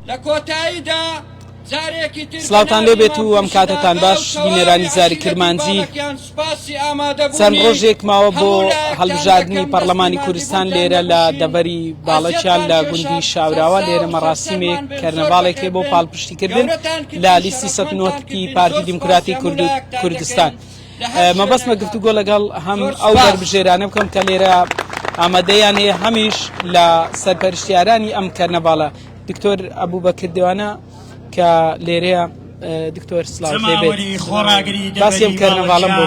لە کۆتاییدا جارێکی تر سلاوتان لێ بێت و ئەم کاتتان باش بینەرانی زاری کرمانجی چەند ڕۆژێک ماوە بۆ هەڵبژاردننی پەرلەمانی کوردستان لێرە لە دەبەری باڵەکیان لە گوندی شاوراوە لێرە مەڕاستیمێک کەرنەباڵێکی بۆ پاڵپشتیکردن لە لیستی سەنۆتی پارتی دیموکراتی کوردستان. مەبەستمە گفتوگۆ لەگەڵ هەم ئەو بەربژێرانە بکەم کە لێرە ئامادەیان هەیە هەمیش لە سەرپەرشتیارانی ئەم کەرنەباڵە دکتۆر ئەبوو بە کردوانە کە لێرەیە دکتۆر سلااو باسیم کەرنەواڵم بۆ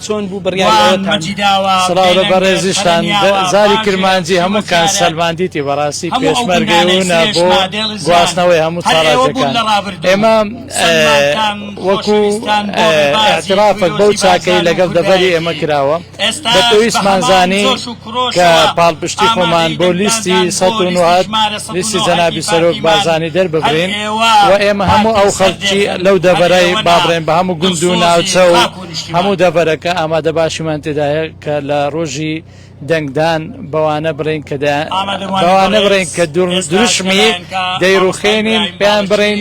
چۆن بوو بڕیاوە بەڕێزیشتان زاری کرمانجی هەموو کان سەلماندیتی بەڕاستی پێشمەرگەی بۆ گواستنەوەی هەموو چاڵ ئێمە وەکو ئاعترافەک بەو چاکەی لەگەڵ دەڤەری ئێمە کراوە بە پێویستمان زانی کە پاڵپشتی خۆمان بۆ لیستی سە لیستی جەنابی سەرۆک بارزانانی دەرببرین و ئێمە هەموو ئەو خەڵکی لەو دەڤەرای بابڕێن بە هەموو گوند و ناوچە و هەموو دەڤەرەکە ئامادە باشیمان تێدایە کە لە ڕۆژی دەنگدان بەوانە بڕێن کە بەوانە بڕێن کە دروشمی دەیڕوخێنین پێیان بڕێن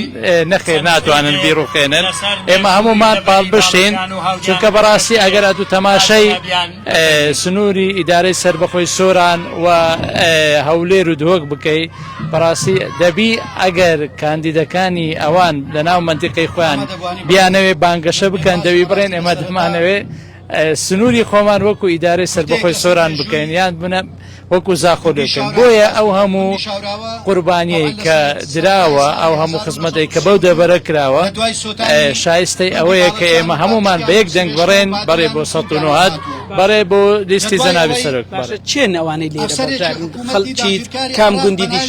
نەخێر ناتوانن بیڕوخێنن ئێمە هەمومان پاڵبشتین چونکە بەڕاستی ئەگەر ئەتو تەماشای سنووری ئیدارەی سربەخۆی سۆران و هەولێر و دهۆک بکەی بەڕاستی دەبی ئەگەر کاندیدەکانی ئەوان لە ناو منتیقی خۆیان بیانەوێ بانگەشە بکەن دەوی بڕێن ئێمە دەمانەوێ سنوری خۆمان وەکو ئیدارەی سەربەخۆی سۆران بکەین یان بنە وەکو زاخۆ لێکەین بۆیە ئەو هەموو قوربانیی کە دراوە ئەو هەموو خزمەتێک کە بەو دەبەرە کراوە شایستەی ئەوەیە کە ئێمە هەمومان بە یەک دەنگ بڕێن بەڕێ بۆ سە نهات بەڕێ بۆ لیستی جەناوی سەرک چێن ئەوانەی لێ کام گوندی دیش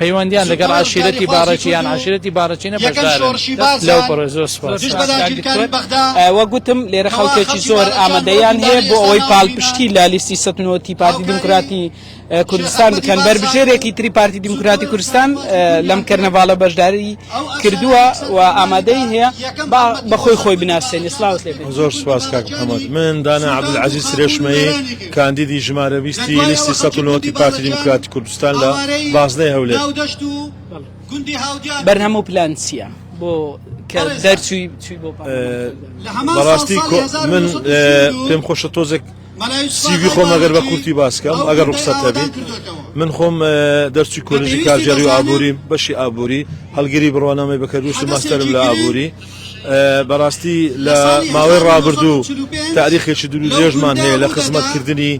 پەیوەندیان لەگەڵ عەشیرەتی باڕەکی یان عەشیرەتی باڕەکینە بەشدارن لەو پڕۆژە زۆر سوپاس وە گوتم لێرە خەڵکێکی زۆر ئامادەیان هەیە بۆ ئەوەی پاڵپشتی لە لیستی سەتنەوەتی پارتی دیموکراتی کوردستان بکەن بەربژێرێکی تری پارتی دیموکراتی کوردستان لەم کەرنەڤاڵە بەشداری کردووە و ئامادەی هەیە بەخۆی خۆی بناسێنی سلااوس لێ زۆر سوپاس کاک محەممەد من دانا عبدعزیز سرێشمەیە کاندیدی ژمارە ویستی لیستی سەتنەوەتی پارتی دیموکراتی کوردستان بەرنامە و پلان چییە بۆ دەرچووی بەڕاستی من پێم خۆشە تۆزێک سیوی خۆم ئەگەر بە کورتی باسکەم ئەگەر ڕوخسەت هەبی من خۆم دەرچی کۆلژی کارجاری و ئابووری بەشی ئابووری هەڵگری بڕوانامەی بەکەروش و ماستەرم لە ئابووری بەڕاستی لە ماوەی ڕابردوو تاریخێکی دروێژمان هەیە لە خزمەتکردنی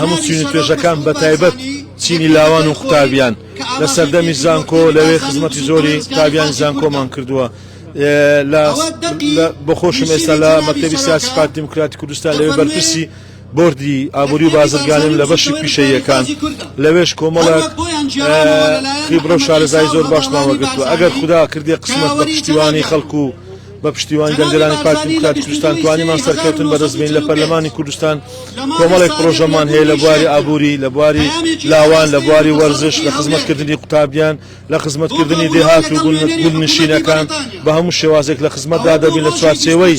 هەموو چین و توێژەکان بە تایبەت چینی لاوان و قوتابیان لە سەردەمی زانکۆ لەوێ خزمەتی زۆری قوتابیانی زانکۆمان کردووە بە خۆشم ئێستا لە مەکتەبی سیاسی پارتی دیموکراتی کوردستان لەوێ بەرپرسی بردی ئابووری و بازرگانیم لە بەشی پیشەیەکان لەوێش کۆمەڵک خیبرە و شارەزای زۆر باشمان وەگرتووە ئەگەر خوددا کردی قسمەت بە پشتیوانی خەڵکو و بە پشتیوانی دەنگدەرانی پارتی دیموکراتی کوردستان توانیمان سەرکەوتن بەدەست بێنین لە پەرلەمانی کوردستان، کۆمەڵێک پڕۆژەمان هەیە لە بواری ئابووری، لە بواری لاوان، لە بواری وەرزش، لە خزمەتکردنی قوتابیان، لە خزمەتکردنی دێهات و گوندنشینەکان، بە هەموو شێوازێک لە خزمەتدا دەبین لە چوارچێوەی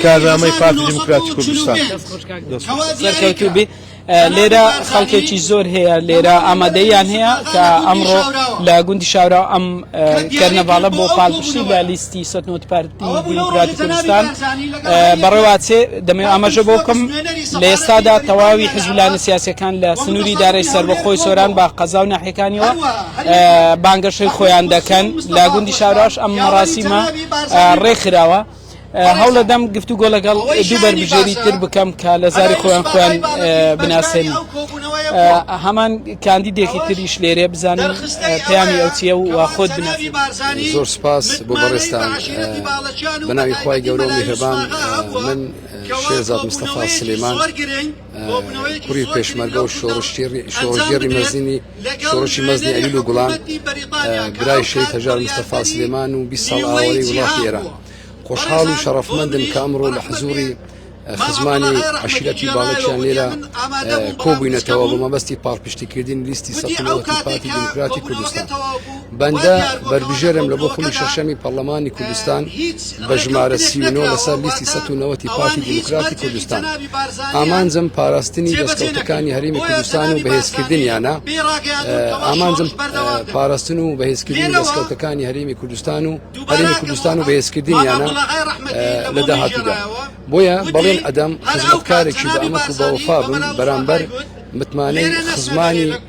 کارنامەی پارتی دیموکراتی کوردستان. لێرە خەڵکێکی زۆر هەیە لێرە ئامادەیان هەیە کە ئەمڕۆ لە گوندی شاورا ئەم کەرنەڤاڵە بۆ پاڵپشتی لە لیستی سەتنۆت پارتی دیموکراتی کوردستان بەڕێواتێ دەمێ ئاماژە بۆ بکەم لە ئێستادا تەواوی حزبلانە سیاسەکان لە سنووری دارای سربەخۆی سۆران با قەزا و ناحەکانیەوە بانگەشەی خۆیان دەکەن لە گوندی شاراش ئەم مەڕاستیمە ڕێکخراوە هەوڵەدەم گفت و گۆ لەگەڵ دوو بەربژێری تر بکەم کە لە زاری خۆیان خۆیان بناسێن هەمان کاندیدێکی تریش لێرێ بزانن پەیامی ئەو چیە و خۆت بناسی زۆر سپاس بۆ بەڕێستان بەناوی خی گەورە میهرەبان من شێزاد مستەفا سلێمان کوڕی پێشمەرگە و شۆڕشگێڕی شۆڕشگێڕی مەزنی شۆڕشی مەزنی ئەویل و گوڵان برای شەید هەژار مستەفا سلێمان و بیست ساڵ ئاوارەی وڵاتی ئێران خۆشحاڵ و شەڕەفمەندن کە ئەمڕۆ لە حزوری خزمانی عشیرەتی باڵەکیان لێرە کۆبووینەتەوە بۆ مەبەستی پاڵپشتیکردنی لیستی سەفی نەوەتی پارتی دیموکراتی کوردستان بەندە بەربژێرم لە بۆ خولی شەشەمی پەرلەمانی کوردستان بە ژمارە سیونۆ لەسەر لیستی سە و نەوەتی پارتی دیموکراتی کوردستان ئامانجم پاراستنی دەستکەوتەکانی هەرمی کوردستان و بەهێزکردنیانە ئامانجم پاراستن و بەهێزکردنی دەستکەوتەکانی هەرمی کوردستان و هەرمی کوردستان و بەهێزکردنیانە لە داهاتوودا بۆیە بەڵێن ئەدەم خزمەتکارێکی بە ئەمە و بەوەفا بم بەرامبەر متمانەی خزمانی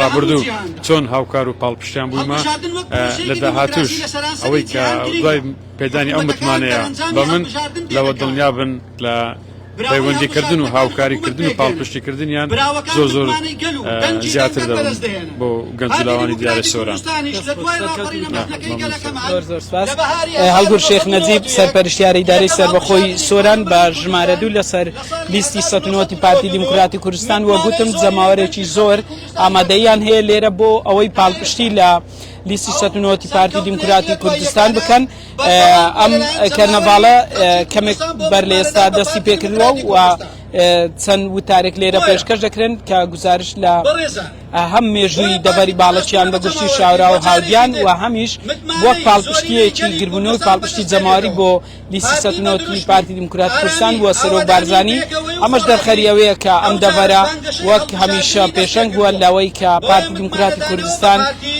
ڕابردوو چۆن هاوکار و پاڵپشتیان بوومە لە داهاتوش ئەوەی کە دوای پێدانی ئەو متمانەیە بە من لەوە دڵنیا بن لە پەیوەندیکردن و هاوکاریکردن و پاڵپشتیکردنیان زۆر زۆر زیاتر دەبن بۆ گەنجلاوانی دیارە سۆران هەڵگور شێخ نەجیب سەرپەرشتیاری داری سەربەخۆی سۆران بە ژمارە دوو لەسەر لیستی سەتنۆتی پارتی دیموکراتی کوردستان وە گوتم جەماوەرێکی زۆر ئامادەیان هەیە لێرە بۆ ئەوەی پاڵپشتی لە لیستی سەتنۆتی پارتی دیموکراتی کوردستان بکەن ئەم کەرنەڤاڵە کەمێک بەر لە ئێستا دەستی پێکردووە و چەند وتارێک لێرە پێشکەش دەکرێن کە گزارش لە هەم مێژووی دەبەری باڵەچیان بە گشتی شاورا و هاودیان و هەمیش وەک پاڵپشتیەکی گربوونەوەی پاڵپشتی جەماری بۆ لیستی سەد و نەوەد ی پارتی دیموکراتی کوردستان بووە سەرۆک بارزانی ئەمەش دەرخەری ئەوەیە کە ئەم دەڤەرە وەک هەمیشە پێشەنگ بووە لەوەی کە پارتی دیموکراتی کوردستان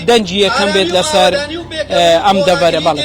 دەنگی یەکەم بێت لەسەر ئەم دەڤەرە بەڵێ